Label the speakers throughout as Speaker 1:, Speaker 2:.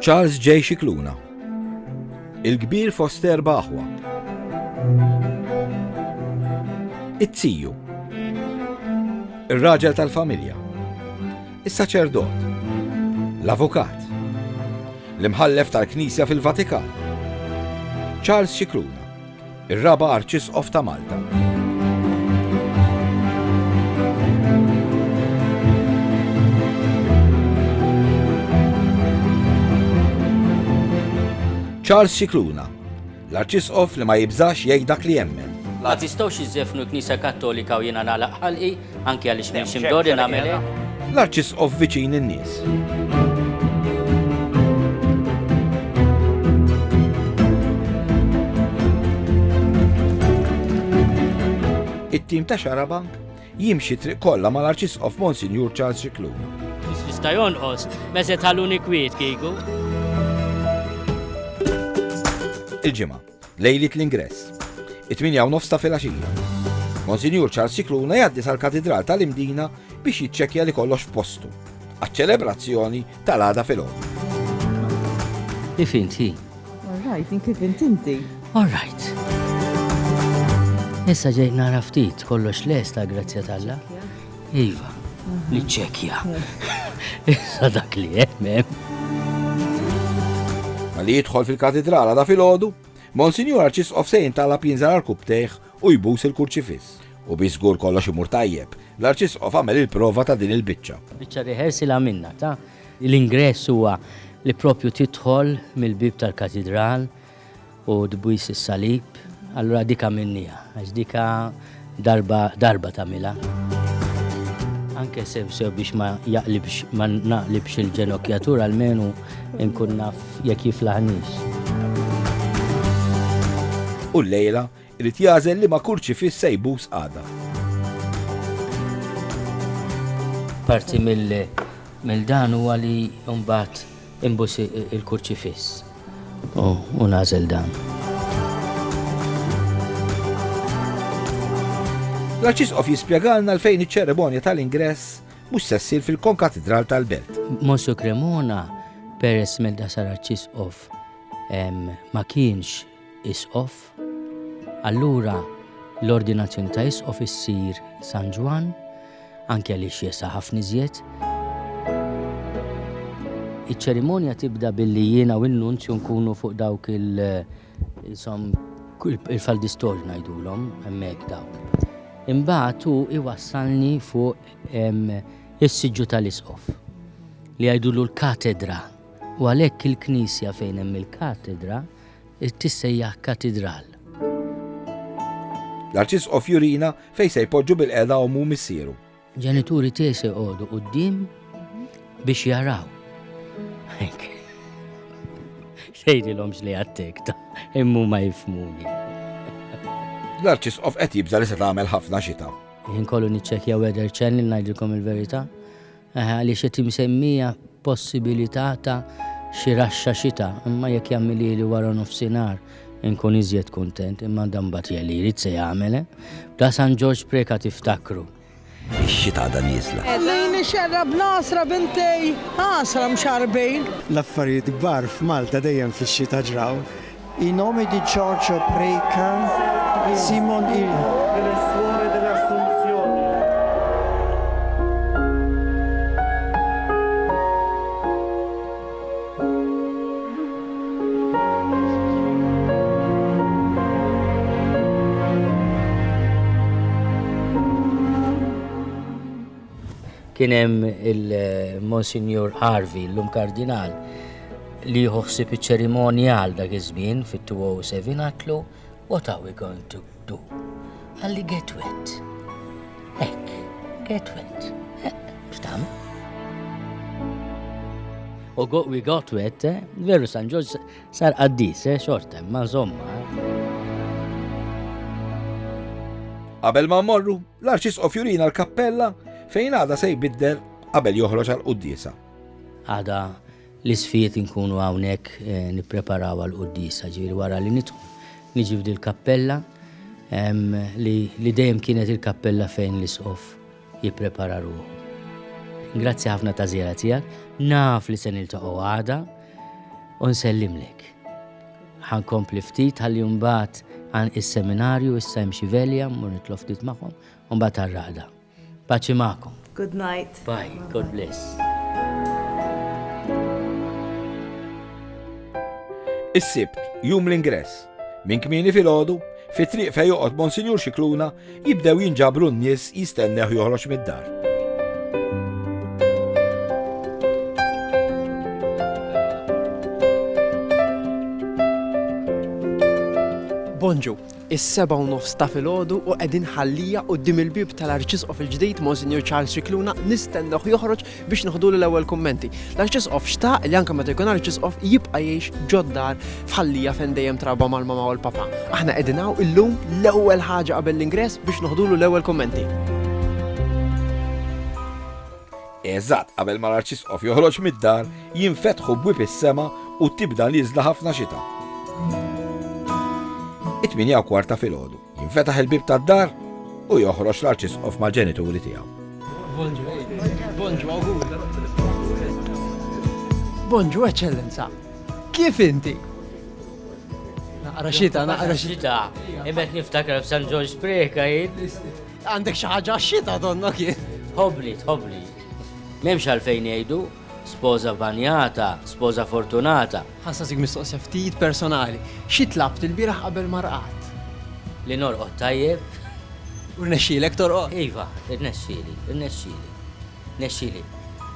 Speaker 1: Charles J. Scicluna Il-kbir fost erba' aħwa. It-tiju. Ir-raġel tal-familja. Is-saċerdot. L-avukat. L-imħallef tal-Knisja fil-Vatikan. Charles Scicluna. Ir-Raba' Arċisqof ta' Malta. Charles Cicluna, l-arċisqof li ma jibżax jgħid dak li jemmen. Ma tistgħux
Speaker 2: iżefnu l-Knisja Kattolika u jiena nagħlaq ħalqi Anki għaliex minn xi mdorri nagħmel hekk. L-Arċisqof viċin
Speaker 1: in-nies. It-tim ta' Xarabank jimxi triq kollha mal-Arċisqof Monsinjur Charles Xikluna. Jista' jonqos,
Speaker 2: meżet ħalluni kwiet kieku.
Speaker 1: Il-ġimgħa. Lejliet l-ingress. It-tmienja u nofs ta' filgħaxija. Monsinjur Charles Cicluna jgħaddi sal-Katidral tal-Imdina biex jiċċekkja li kollox f'postu għaċ-ċelebrazzjoni tal-għada filgħodu.
Speaker 2: Kif inti? All right, in
Speaker 3: kif inti? All right.
Speaker 2: Issa ġejt nara ftit kollox lesta grazzja tal-la. Iva, niċċekkja. Issa dak li hemm hemm.
Speaker 1: Li jidħol fil-katidral għada fil-ħodu, Monsinjur Arċisqof se jintalab jinżar għal-kubtejħ u jbus il-kurċifiss. U bi żgur kollox imur tajjeb, l-Arċisqof għamel il-prova ta' din il-biċċa. Biċċa rehearsal
Speaker 2: għamilna ta' l-ingress huwa li propju tidħol mill-bieb tal-katidral, u tbwis is-salib, allura dik għamilniha, għax dik darba darba tagħmilha. Anke sew sew biex ma jaqlibx ma naqlibx il-ġenokjatur almenu nkun naf jekk jiflaħniex.
Speaker 1: U llejla Irid jagħżel liema kurċifiss se jbus għada.
Speaker 2: Parti mill dan huwa li mbagħad imbus il-kurċifiss u nagħżel dan.
Speaker 1: L-Arċisqof jispjegalna l-fejn iċ-ċeremonja tal-ingress mhux se ssir fil-konkatidral tal-belt. Monsu Cremona,
Speaker 2: peress mill-dasar Arċisqof ma kienx Isqof, allura l-ordinazzjoni ta' Isqof issir San Ġwann, anke għaliex jesa' ħafna iżjed. Iċ-ċerimonja tibda billi jiena u n-nunzju nkunu fuq dawk il- insom il-faldistor ngħidulhom hemmhekk dawk. Imbagħad hu iwassalni fuq is-siġġu tal-Isqof li jgħidulu l-katedra u għalhekk il-knisja fejn hemm il-katedra tissejjaħ katidral.
Speaker 1: L-Arċisqof jurina fejn se jpoġġu bilqiegħda ommu u missieru. Ġenituri tiegħi
Speaker 2: se jqogħdu quddiem biex jaraw. Tgħidilhom x'li għattek ta' immu ma jifmuni.
Speaker 1: L-Arċisqof qed jibża' li se tagħmel ħafna xita. Jien kollu niċċekkja
Speaker 2: weather channel ngħidilkom il-verità. Eħe, għaliex qed imsemmija possibilità ta' xi raxxa xita, imma jekk jagħmilhieli waranofsinhar inkun iżjed kuntent, imma dan mbagħad hija li jrid se jagħmel, eh! Bla San Ġorġ Preca tiftakru. Ix-xita
Speaker 1: għadha nieżla. Ħallini xerrab
Speaker 4: l-għasra bintej, għasra mxarrbin. L-affarijiet kbar
Speaker 5: f'Malta dejjem fix-xita ġraw. I nome di
Speaker 6: Giorgio Preca, Simon il.
Speaker 2: kien hemm il-Monsignor Harvey, l-lum kardinal, li jieħu ħsieb iċ-ċerimonja għal dak iż-żmien fit-207 għatlu What are we going to do? Għalli get wet. Ek, get wet. Xtam? U we got wet, eh? veru San Ġoż sar qaddis, eh? xortem, ma' zomma. Eh?
Speaker 1: Qabel ma morru, l-arċisqof jurina l-kappella fejn għada se jbiddel qabel joħroġ għal qudiesa. Għada
Speaker 2: l-Isfid inkunu hawnhekk nippreparaw għall-quddiesa, ġifieri wara li nidħlu niġi f'dil kappella li dejjem kienet il-kappella fejn l-isqof jipprepara ruħu. Grazzi ħafna ta' żjara tiegħek, naf li se niltaqgħu għada u nsellimlek. Ħankompli ftit ħalli mbagħad għan is-seminarju issa hemm xi velja mmur nitlob ftit magħhom u mbagħad għar-raqda. Paċi magħkom. Good night. Bye.
Speaker 7: Bye. God bless.
Speaker 1: Is-sibt, jum l-ingress. Minn kmini fil-ħodu, fi triq fej joqgħod Monsinjur Xikluna, jibdew jinġabru n-nies jistenneħ joħroġ mid-dar.
Speaker 8: Bonġu, is-sebgħa u nofs ta' filgħodu u qegħdin ħallija quddiem il-bieb tal-Arċisqof il-ġdid, Monsinjur Charles Scicluna, nistennewh joħroġ biex neħdulu l-ewwel kummenti. L-Arċisqof xtaq li anke meta jkun Arċisqof jibqa' jgħix ġod-dar f'Ħallija fejn dejjem trabba mal-Mama u l-Papa. Aħna qegħdin hawn illum l-ewwel ħaġa qabel l-ingress biex neħdulu l-ewwel kummenti.
Speaker 1: Eżatt qabel ma l-Arċisqof joħroġ mid-dar, jinfetħu bwieb is-sema u tibda nieżla ħafna xita. It-tmienja u kwart ta' filgħodu, jinfetaħ il-bieb tad-dar u joħroġ l-Arċisqof mal-ġenituri tiegħu.
Speaker 8: Bonġu, Eċċellenza! Kif inti? Naqra xita, naqra xita.
Speaker 2: Imet niftakar f'San Ġorġ Spreħka, Għandek xi ħaġa
Speaker 8: xita donnok jien. Tħobli, tħobli.
Speaker 2: M'hemmx għalfejn jgħidu spoża banjata, spoża fortunata. Ħassa zik mistoqsija
Speaker 8: ftit personali. Xi tlabt il-bieraħ qabel marqat? Li norqod
Speaker 2: tajjeb. U
Speaker 8: rnexxielek torqod? Iva, rnexxieli,
Speaker 2: rnexxieli. Nexxieli.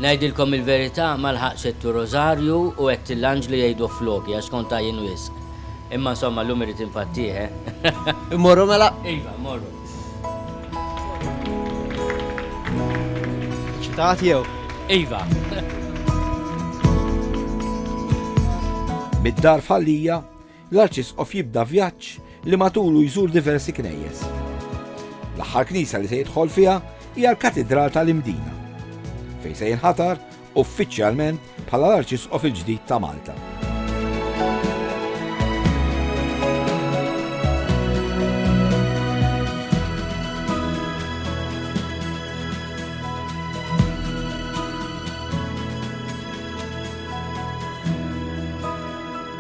Speaker 2: Ngħidilkom il-verità ma lħaqtx għedt r-Rożarju u għedt l-Anġlu jgħiduh floki għax kont għajjien wisq. Imma insomma llum irrid infattih, eh. Immorru
Speaker 8: mela? Iva, immorru.
Speaker 2: Eċċitat
Speaker 8: jew? Iva.
Speaker 1: Mid-dar f'Ħal Lija, L-Arċisqof jibda vjaġġ li matulu jżur diversi knejjes. L-aħħar knisa li se jidħol fiha hija l-Katidral tal-Imdina, fejn se jinħatar uffiċjalment bħala l-Arċisqof il-ġdid ta' Malta.